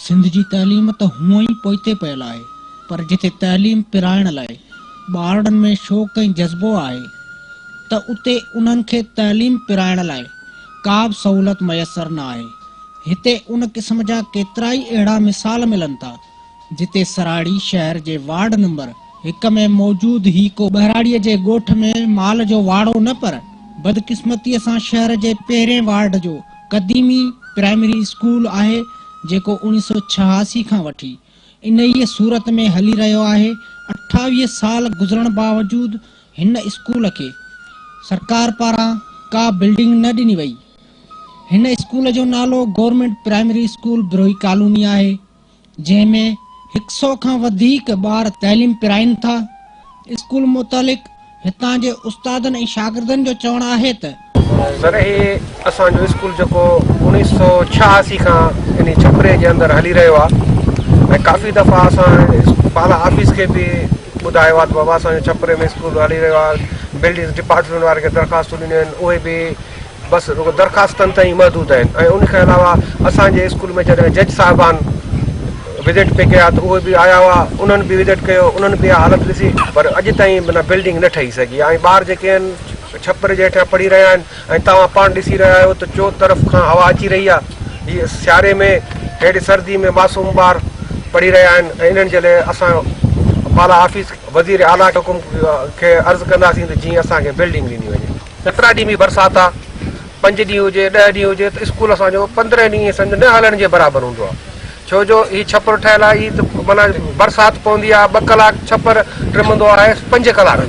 سنڌ جي تعليم ته هونئن ئي پوئتي پيل آهي پر جتي تعليم پرائڻ لاء ٻارڙن ۾ شوق ۽ جذبو آهي ته اتي انهن کي تعليم پرائڻ لاء ڪا به سهولت ميسر نه آهي. هتي ان قسم جا ڪيترائي اهڙا مثال ملن ٿا. جتي سراڙي شهر جي وارڊ نمبر هڪ ۾ موجود هي ڪو ٻهراڙيء جي ڳوٺ ۾ مال جو واڙو نه پر بدقسمتيء سان شهر جي پهرين وارڊ جو قديمي پرائمري اسڪول آهي جيڪو اوڻيهه سؤ ڇهاسي کان وٺي انهيء صورت ۾ هلي رهيو آهي اٺاويهه سال گذرڻ باوجود هن اسڪول کي سرڪار پاران ڪا بلڊنگ نه ڏني وئي هن اسڪول جو نالو government primary school Brohi colony آهي. جنهن ۾ هڪ سئو کان وڌيڪ ٻار تعليم پرائين ٿا. اسڪول متعلق هتان جي استادن ۽ شاگردن جو چوڻ آهي ته. سر هي اسان جو اسڪول جيڪو اوڻيهه سئو ڇهاسي کان انهي ڇپري جي اندر هلي رهيو آهي ۽ ڪافي دفعا اسان بالا آفيس کي به ٻڌايو آهي ته بابا اسان جو ڇپري ۾ اسڪول هلي رهيو آهي بلڊنگس ڊپارٽمينٽ وارن کي درخواستون ڏنيون آهن اهي به بس رڳو درخواستن تائين ئي محدود آهن ۽ ان کان علاوه اسان جي اسڪول ۾ جڏهن جج صاحبان وزٽ پي ڪيا ته اهي به آيا هئا انهن به وزٽ ڪيو انهن به اها حالت ڏسي پر اڄ تائين معنيٰ بلڊنگ نه ٺهي سگهي آهي ۽ ٻار جيڪي آهن ڇپر جي هيٺيان پڙهي رهيا آهن ۽ توهان پاڻ ڏسي رهيا آهيو ته چو طرف کان هوا اچي رهي آهي هي سياري ۾ هيڏي سردي ۾ معصوم ٻار پڙهي رهيا آهن ۽ انهن جي لاء اسان بالا آفيس وزير اعليٰ کي حڪم کي عرض ڪنداسين ته جيئن اسان کي بلڊنگ ڏني وڃي جترا ڏينهن به برسات آ پنج ڏينهن هجي ڏهه ڏينهن هجي ته اسڪول اسان جو پندرهن ڏينهن سمجهه نه هلڻ جي برابر هوندو آ ڇو جو هي ڇپر ٺهيل آ هي ته معنيٰ برسات پوندي آ ٻه ڪلاڪ ڇپر ٽمندو آهي پنج ڪلاڪ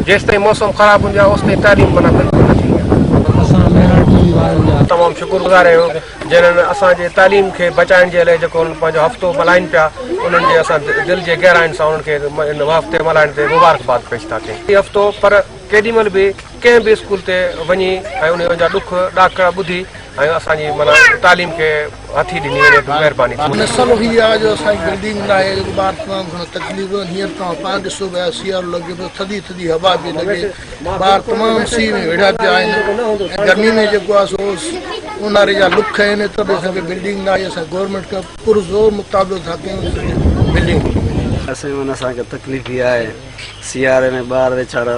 جيستائين موسم خراب هوندي آ اوستائين تعليم معنيٰ بلڪل نه ٿيندي آ اسان ميهڙ ٽي وي وارن جا تمام شڪر گذار آهيون جنن اسان جي تعليم کي بچائڻ جي لئي جيڪو پنهنجو هفتو ملهائين پيا انهن جي اسان دل جي گهراين سان انهن کي هن هفتي ملهائڻ تي مبارڪ باد پيش ٿا ڪيون هي هفتو پر ڪيڏي مھل به ڪنھن به اسڪول تي وڃي ۽ انھن جا ڏک ڏاکڙا ٻڌي ۽ اسان جي معنيٰ تعليم کي ھٿي ڏني وڃي ته مھرباني ٿيندي. مسئلو ھي آ جو اسان جي بلڊنگ ناھي جو ٻار تمام گھڻو تڪليف ڏنو ھينئر توھان پاڻ ڏسو پيا سيارو لڳي پيو ٿڌي ٿڌي ھوا پئي لڳي ٻار تمام سيء ۾ ويڙھيا پيا آھن ۽ گرمي ۾ جيڪو آ سو اونھاري جا ڏک آھن اتر به اسان کي بلڊنگ ناھي اسان گورنمينٽ کان پرزور مطالبو ٿا ڪيون ته اسان کي بلڊنگ ڏني وڃي. اسان جي معنيٰ اسان کي تڪليف ھي آھي. سياري ۾ ٻار ويڇاڙا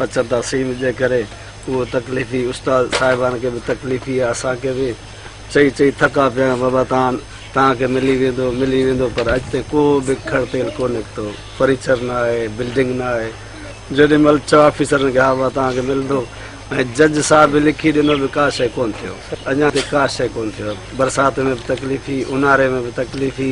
اچن ٿا سيم جي ڪري اهو تڪليفي استاد صاحبان کي به تڪليفي آ اسان کي به چئي چئي ٿڪا پيا آهيون بابا تان تان کي ملي ويندو ملي ويندو پر اڄ تائين ڪو به کڙ تيل ڪو نڪتو فرنيچر نه آهي بلڊنگ نه آهي جيڏي مهل چئو آفيسرن کي ها بابا تان کي ملندو ۽ جج صاحب به لکي ڏنو به ڪا شئي ڪون ٿيو اڃا تائين ڪا شئي ڪون ٿيو برسات ۾ به تڪليفي اونهاري ۾ به تڪليفي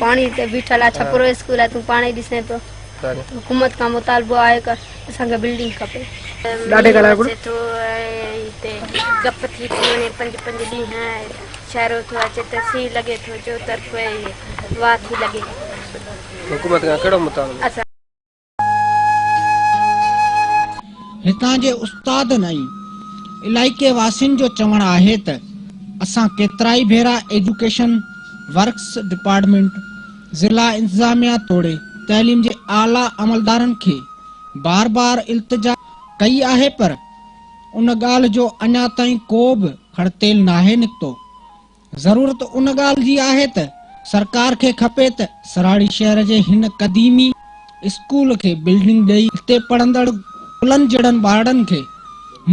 پاڻي تي بيٺل آ ڇپرو اسڪول آ تون پاڻ ئي ڏسين پيو حڪومت کان مطالبو آهي ڪه اسان کي بلڊنگ کپي ڏاڍي ڳالهائي پيو ٿو هتي گپ ٿي ٿي وڃي پنج پنج ڏينهن شهرو ٿو اچي ته سي لڳي ٿو چو طرف واه ٿي لڳي حڪومت کان ڪهڙو مطالبو هتان جي استادن ۽ علائقي واسين جو چوڻ آهي ته اسان ڪيترائي ڀيرا ايجوڪيشن ورڪس ڊپارٽمينٽ، ضلع انتظاميا توڙي تعليم جي اعليٰ عملدارن کي بار بار التجا ڪئي آهي پر ان ڳالهه جو اڃا تائين ڪو به کڙتيل ناهي نڪتو. ضرورت ان ڳالهه جي آهي ته سرڪار کي کپي ته سراڙي شهر جي هن قديمي اسڪول کي بلڊنگ ڏئي اتي پڙهندڙ پلن جهڙن ٻارڙن کي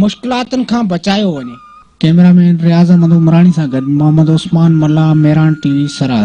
مشڪلاتن کان بچايو وڃي. ڪئميرا مين رياض احمد عمراڻي سان گڏ محمد عثمان ملاح، ميران ٽي وي، سراري.